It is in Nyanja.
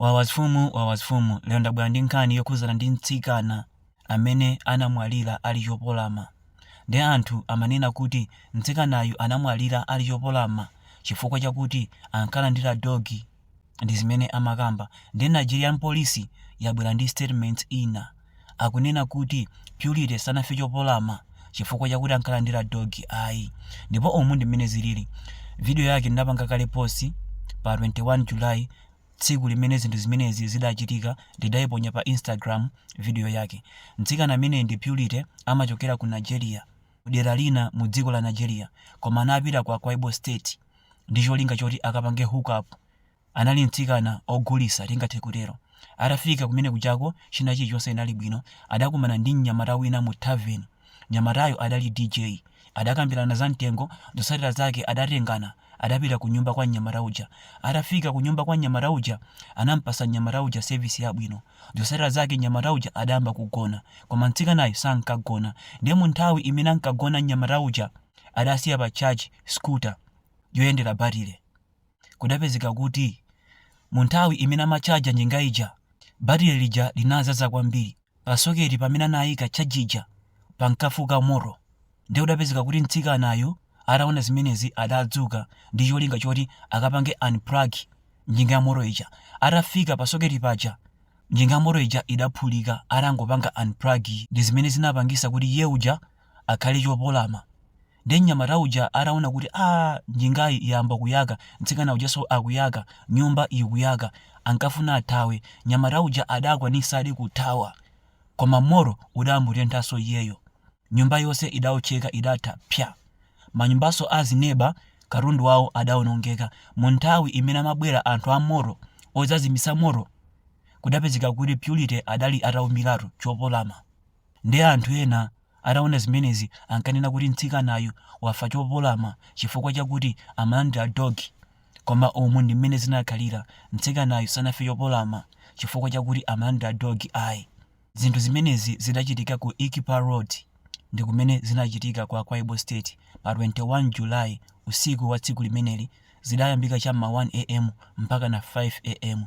Wawas Fumu Wawas Fumu lero ndabwera ndi nkhani yokhuzana ndi mtsikana amene anamwalira ali chopolama nde anthu amanena kuti mtsikanayu anamwalira ali chopolama chifukwa chakuti ankalandira dog ndizimene amakamba nde Nigerian police yabwera ndi statement ina akunena kuti Purity sanafe chopolama chifukwa chakuti ankalandira dog ayi ndipo umu ndi mmene zilili video yake ndinapanga kale post pa 21 July Tsiku limene zinthu zimenezi zidachitika ndidaiponya pa Instagram video yake. Mtsikana ameneyi ndi Purity amachokera ku Nigeria, ku dera lina mu dziko la Nigeria koma anapita ku Akwa-Ibom State ndi cholinga choti akapange hookup. Anali mtsikana ogulisa tingathe kutero. Atafika kumene kujako china chilichonse chinali bwino. Adakumana ndi mnyamata wina mu tavern. Mnyamatayu adali DJ. Adakambirana za mtengo, zotsatira zake adatengana. Adapita kunyumba kwa mnyamata uja. Atafika kunyumba kwa mnyamata uja, anampasa mnyamata uja service yabwino. Zotsatira zake mnyamata uja adayamba kugona. Koma mtsikanayu sankagona. Ndiye munthawi imene ankagona mnyamata uja adasiya pa charge scooter yoyendera batile. Kudapezeka kuti munthawi imene amatchaja njinga ija, batile lija linazaza kwambiri. pa soketi pamene anayika charge ija pankafuka moto ndiye kudapezeka kuti mtsikanayu ataona zimenezi adadzuka ndi cholinga choti akapange unplug njinga ya moto ija atafika pa soketi paja njinga ya moto ija idaphulika atangopanga unplug ndi zimene zinapangisa kuti iye uja akhale chopolama Ndiye mnyamata uja ataona kuti aa njingayi yayamba kuyaka, mtsikana ujanso akuyaka, nyumba ikuyaka, ankafuna athawe. Mnyamata uja adakwanitsadi kuthawa. Koma moto udamutenthanso iyeyo. Nyumba yonse idaotcheka, idatha psya. Manyumbanso a azineba, katundu wawo adaonongeka. Munthawi imene amabwera anthu a moto odzazimitsa moto, kudapezeka kuti Purity adali ataumiratu chopolama. Ndiye anthu ena ataona zimenezi ankanena kuti mtsikanayu wafa chopolama chifukwa chakuti amalandira dogi. Koma umu ndi mmene zinakhalira, mtsikanayu sanafe chopolama chifukwa chakuti amalandira dogi ayi. Zinthu zimenezi zidachitika ku Ikpa Road ndi kumene zinachitika ku Akwa Ibom State pa 21 July. Usiku wa tsiku limeneli zidayambika cha m'ma 1 am mpakana 5 am.